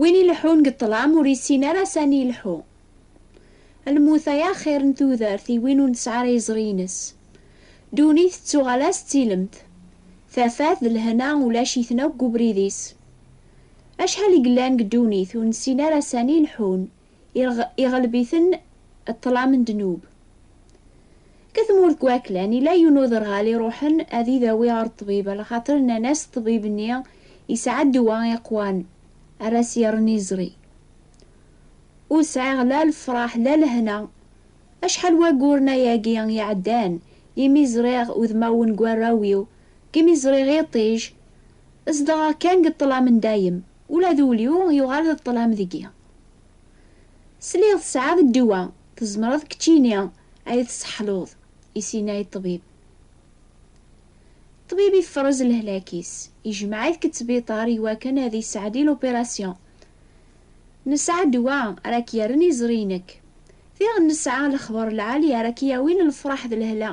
Win ileḥḥun deg ṭṭlam ur yessin ara sani ileḥḥu. Lmut ay axir n tudert i win ur nesɛi ara iẓri-ines. Ddunit tettuɣal-as d tilemt. Tafat d lehna ulac-iten akk deg ubrid-is. Acḥal i yellan deg ddunit ur nessin ara sani leḥḥun. Iɣleb-iten ṭṭlam n ddnub. Deg tmurt n waklan, yella yiwen n uderɣal iruḥen ad idawi ɣer ṭṭbib, ala xaṭer nnan-as ṭṭbib-nni yesɛa ddwa iqwan ara s-yerren iẓri. Ur sɛiɣ la lefraḥ la lehna. Acḥal wagguren ayagi iɛeddan imi ẓriɣ udmawen n warraw-iw, imi ẓriɣ iṭij, zedɣeɣ kan deg ṭṭlam n dayem. Ula d ul-iw yuɣal d ṭṭlam deg-i. Sliɣ tesɛiḍ ddwa, tzemreḍ keččini ay tseḥluḍ, i s-yenna i ṭṭbib. Ṭṭbib ifrez lehlak-is, ijmeɛ-it k ttbiṭar i wakken ad yesɛeddi lupirasyon. Nesɛa ddwa ara k-yerren iẓri-inek. Diɣen nesɛa lexber lɛali ara k-yawin lefraḥ d lehla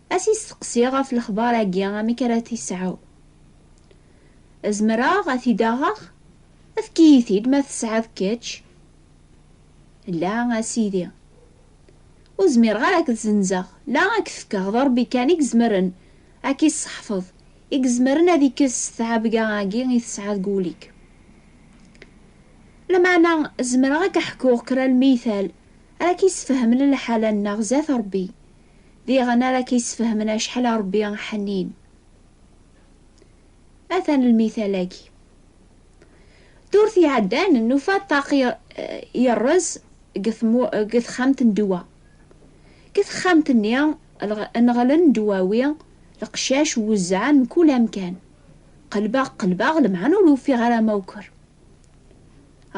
Ad t-isteqsi ɣef lexbar-agi amek ara t-isɛu. Zemreɣ ad t-id-aɣeɣ? Efk-iyi-t-id ma tesɛiḍ kečč. La, a sidi. Ur zmireɣ ara ad k-zzenzeɣ, la ad k-t-fkeɣ, d Ṛebbi kan i izemren ad k-isseḥfeḍ, i izemren ad ikkes tɛebga-agi i tesɛiḍ deg wul-ik. Lameɛna zemreɣ ad k-ḥkuɣ kra n lmiytal ara k-isfehmen lḥala-nneɣ zdat Ṛebbi. Diɣen ara k-yessfehmen acḥal a Ṛebbi ḥnin. Atan lmital-agi. Ddurt iɛeddan nufa ṭṭaq yerreẓ deg texxamt n ddwa. Deg texxamt-nni nɣelen ddwawi, leqcac wezzɛen mkul amkan. Qelbeɣ qelbeɣ lemɛen ur ufiɣ ara amawker.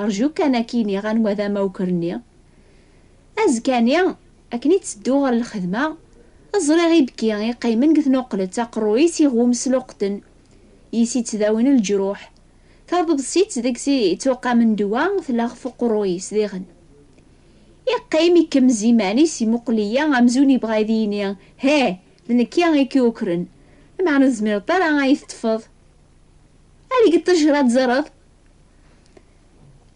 Rju kan a k-iniɣ anwa d amawker-nni. Azekka-nni Akken i ttedduɣ ɣer lxedma, ẓriɣ ibki iqqimen deg tnuqlet, aqerruy-is iɣum s luqten, yis i ttdawin leǧruḥ, taḍebsit deg-s i ttuqamen ddwa tella ɣef uqerruy-is diɣen. Iqqim ikemmez iman-is imuqel-iyi amzun ibɣa ad iyi-yini, Heh! D nekki i k-yukren, lameɛna ur tezmireḍ ara ad yi-teṭṭfeḍ! Ali-d ṭṭejra ad teẓreḍ!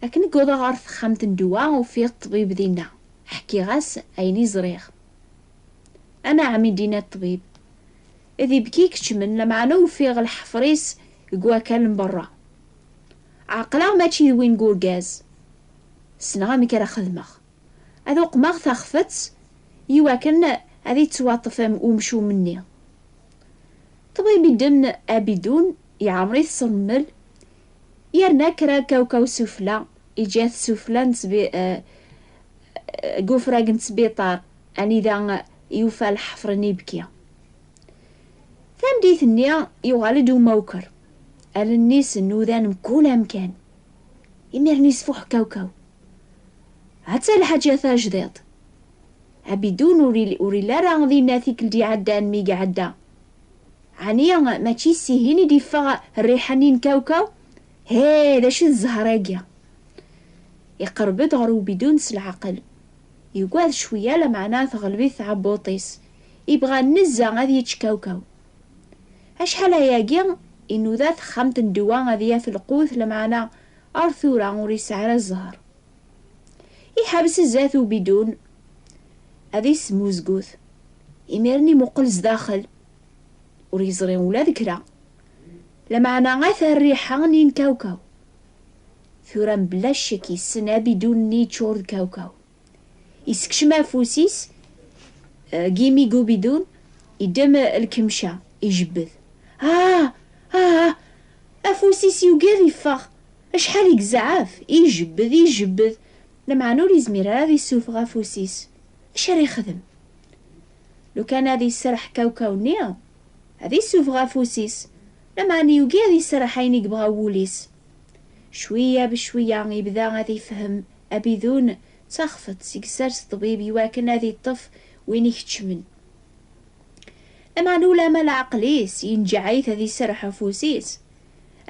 Akken i wwḍeɣ ɣer texxamt n ddwa, ufiɣ ṭṭbib dinna. Ḥkiɣ-as ayen i ẓriɣ. Anɛam i d-yenna ṭṭbib. D ibki i keččmen, lameɛna ufiɣ lḥefṛ-is deg wakal n beṛṛa. Ɛeqleɣ mačči d win n urgaz. Ssneɣ amek ara xedmeɣ. Ad uqmeɣ taxfeţ i wakken ad iţwaṭṭef umcum-nni. Ṭṭbib idden abidun, iɛemmeṛ-it s rrmel, Yerna kra kawkaw sufla, iǧa-t sufla n deg ufrag n sbiṭar anida yufa lḥefr n ibki. Tameddit-nni yuɣal-d umawker, allen-is nudan mkul amkan. Imiren yesfuḥ kawkaw. Atta lḥaǧa tajdiḍt. Abidun ur ili ara dinna tikelt iɛeddan mi iɛedda Ɛni mačči s ihin i d-iffeɣ rriḥa-nni n kawkaw? Hee, d acu d zzher-agi? Iqerreb-d ɣer ubidun s leɛqel. Yugad cwiya lameɛna teɣleb-it tɛebbuṭ-is, ibɣa nezzeh ad yečč kawkaw. Acḥal ayagi inuda texxamt n ddwa ad yaf lqut lameɛna ar tura ur yesɛi ara zzher. Iḥeres zdat ubidun, ad yesmuzgut. Imiren imuqel zdaxel, ur yeẓri ula d kra. Lameɛna at rriḥa n yinkawkaw. Tura mebla ccek yessen abidun-nni yeččur d kawkaw. Yessekcem afus-is deg yimi n ubidun, yeddem lkemca, ijebbed. Ah! Ah! Afus-is yugi ad yeffeɣ. Acḥal i yezɛef, i ijebbed, i ijebbed, lameɛna ur yezmir ara ad yessufeɣ afus-is. Acu ara yexdem? Lukan ad iserreḥ kawkaw-nni, ad yessufeɣ afus-is, lameɛna yugi ad iserreḥ ayen i yebɣa wul-is. Cwiya becwiya, yebda ad ifehhem abidun d taxfeḍt i yessers ṭṭbib i wakken ad iṭṭef win ikeččmen. Lameɛna ulamma leɛqel-is yenǧeɛ-it ad iserreḥ afus-is.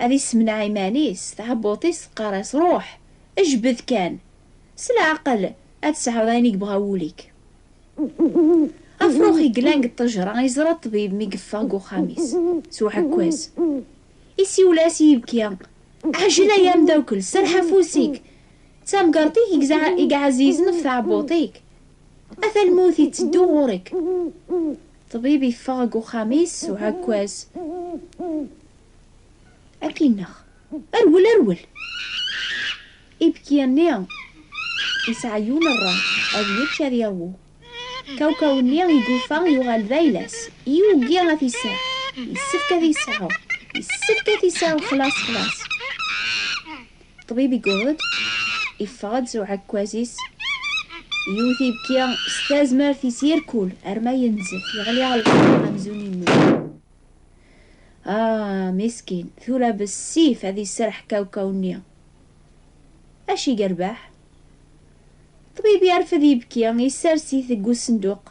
Ad issemneɛ iman-is, tɛebbuḍt-is teqqar-as, Ruḥ, ejbed kan, s leɛqel ad tesɛuḍ ayen i yebɣa wul-ik. Afrux i yellan deg ṭṭejra yeẓra ṭṭbib mi yeffeɣ deg uxxam-is s uɛekkaz. Isiwel-as i yibki, Ɛjel ay ameddakel, serreḥ afus-ik! D tamgerḍt-ik i iɛezizen ɣef tɛebbuḍt-ik. Ata lmut iteddu ɣur-k. Ṭṭbib iffeɣ deg uxxam-is s uɛekkaz. Ad k-ineɣ. Rwel, rwel! Ibki-nni yesɛa yiwen rray, ad yečč ad yawu. Kawkaw-nni igufa yuɣal d ayla-s, yugi ad t-iseɛ. Yessefk ad t-iseɛɛu, yessefk ad t-iseɛɛu xlas, xlas. Ṭṭbib igured, iffeɣ-d s uɛekkaz-is, yewwet ibki s tazmert-is irkul arma yenzef, yeɣli lqaɛa amzun yemmut. Ah, miskin, tura bessif ad iserreḥ kawkaw-nni. Acu i yerbeḥ? Ṭṭbib yerfed ibki, yessers-it deg usenduq,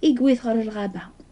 iggwi-t ɣer lɣaba.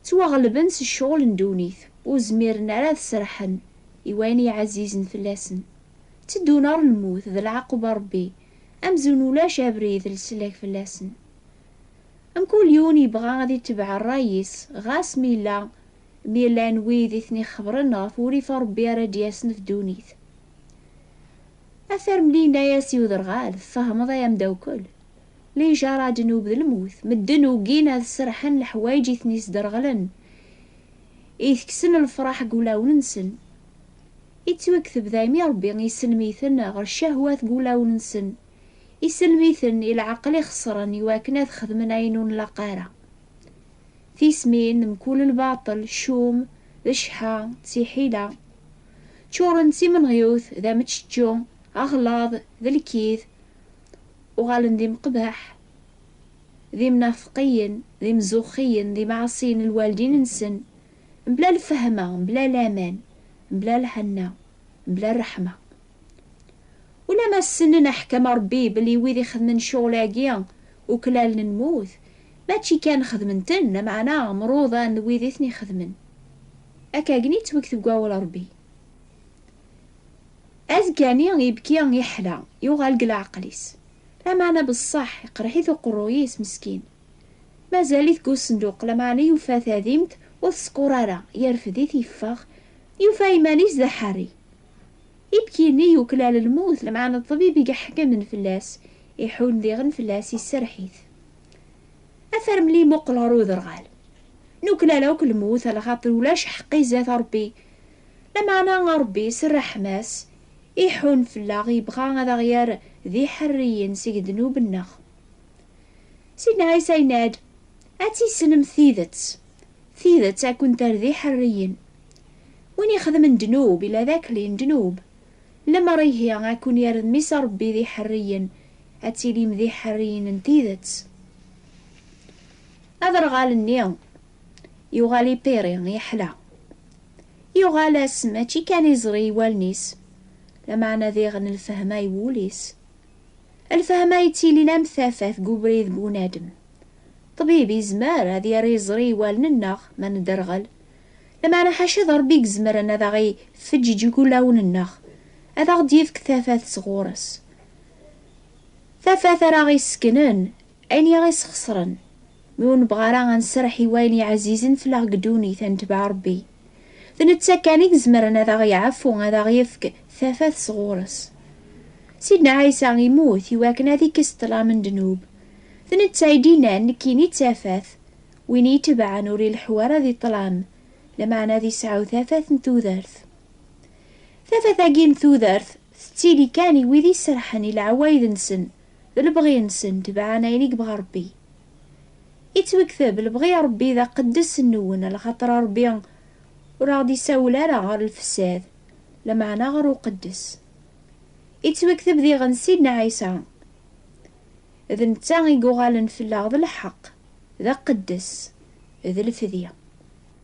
Ttwaɣelben s ccɣel n ddunit, ur zmiren ara ad serḥen i wayen yeɛzizen fell-asen. Tteddun ɣer lmut d lɛaqub n Rebbi, amzun ulac abrid leslak fell-asen. Mkul yiwen yebɣa ad itebbeɛ rray-is, ɣas mi yella mi llan wid i ten-ixebren ɣef wurrif n Rebbi ara d-yasen ɣef ddunit. Atarmli yenna-yas i uderɣal, Tfehmeḍ ay amdawkel? Lijaṛa ddnub d lmut. Medden ugin ad serḥen leḥwayeǧ i ten-isderɣlen, itekksen lefṛaḥ deg wulawen-nsen. Ittwakteb daymi Ṛebbi isellem-iten ɣer ccahwat deg wulawen-nsen, isellem-iten i leɛqel ixeṣren i wakken ad xedmen ayen ur nlaq ara. Tismin, d mkul lbaṭel, ccum, d cceḥḥa, d tiḥila. Ččuṛen d timenɣiwt, d ameččečču, aɣlaḍ, d lkid. Uɣalen d imqbeḥ, d imnafeqiyen, d imzuxxiyen, d imɛaṣiyen n lwaldin-nsen, mebla lfehma, mebla laman, mebla lḥenna, mebla rreḥma. Ulamma ssnen aḥkam n Rebbi belli wid ixedmen ccɣel-agi uklalen lmut, mačči kan xedmen-ten, lameɛna mruḍan d wid i ten-ixedmen. Akka agni ttwektev deg wawal n Rebbi. Azekka-nni ibki yeḥla, yuɣal deg leɛqel-is. Lameɛna beṣṣeḥ iqerreḥ-it uqerruy-is meskin. Mazal-it deg usenduq, lameɛna yufa tadimt ur teskuṛ ara, yerfed-it yeffeɣ, yufa iman-is d aḥerri. Ibki-nni yuklal lmut, lameɛna ṭṭbib i iḥekmen fell-as, iḥunn diɣen fell-as, iserreḥ-it. Afermel imuqel ɣer uderɣal. Nuklal akk lmut, ala xaṭer ulac ḥeqq izat Ṛebbi, Lameɛna Ṛebbi s ṛṛeḥma-s iḥun fell-aɣ, yebɣa ad aɣ-yerr d iḥerriyen seg ddnub-nneɣ. Sidna Ɛisa yenna-d, Ad tissnemt tidet, tidet ad kent-terr d iḥerriyen. Win ixedmen ddnub ila d akli n ddnub, lemmer ihi ad ken-yerr d Mmi-s Ṛebbi d iḥerriyen, ad tilim d iḥerriyen n tidet. Aderɣal-nni yuɣal ipiri, yeḥla. Yuɣal-as mačči kan iẓri i wallen-is, lameɛna diɣen lfehma i wul-is. Lfehma yettilin am tafat deg ubrid n unadem. Ṭṭbib yezmer ad yerr iẓri i wallen-nneɣ ma nedderɣel, lameɛna ḥaca d Ṛebbi i izemren ad aɣ-ifeǧǧeǧ ulawen-nneɣ, ad aɣ-d-yefk tafat sɣur-s. Tafat ara aɣ-isekknen Ayen i aɣ-isxesren, mi ur nebɣa ara ad nserreḥ i wayen yeɛzizen fell-aɣ deg ddunit, ad netbeɛ Rebbi. D netta kan i izemren ad aɣ-iɛfu, ad aɣ-yefk tafat sɣur-s. Sidna Ɛisa immut i wakken ad ikkes ṭṭlam n ddnub. D netta i d-innan, Nekkini d tafat, win i yi-tebɛen ur ileḥḥu ara di ṭṭlam, lameɛna ad iseɛɛu tafat n tudert. Tafat-agi n tudert tettili kan i wid iserrḥen i leɛwayed-nsen D lebɣi-nsen, tebɛen ayen i yebɣa Ṛebbi. Yettwekteb lebɣi n Ṛebbi d aqeddes nwen, lxaṭer Ṛebbi ur aɣ-d-isawel ara ɣer lfesad, lameɛna ɣer uqeddes. Yettwekteb diɣen Sidna Ɛisa, d netta i yuɣalen fell-aɣ d lḥeqq, d aqeddes, d lfedya.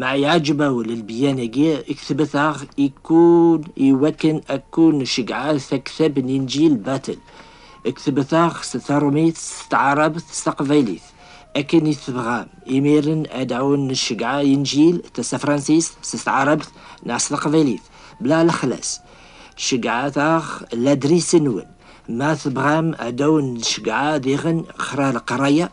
Ma iɛǧeb-awen lbeyyan-agi i ketbet-aɣ ikkun iwakken ad kun-ceggɛeɣ taktab n Inǧil Battle, ketbet-aɣ s terumit, s tɛarabt, s taqbaylit, akken i tebɣam. Imiren ad awen-nceggɛeɣ Inǧil tasafransist s tɛarabt neɣ s taqbaylit, bla lexlas. Ceggɛet-aɣ ladris-nwen. Ma tebɣam ad awen-nceggɛeɣ diɣen xra leqraya,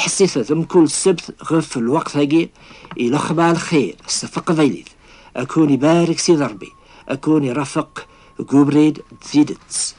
ḥessit d mkul ssebt ɣef lweqt-agi i la xḍa lxir s teqbaylit, ad kun ibarek Sidi Rebbi, ad kun irafeq deg ubrid d tidet.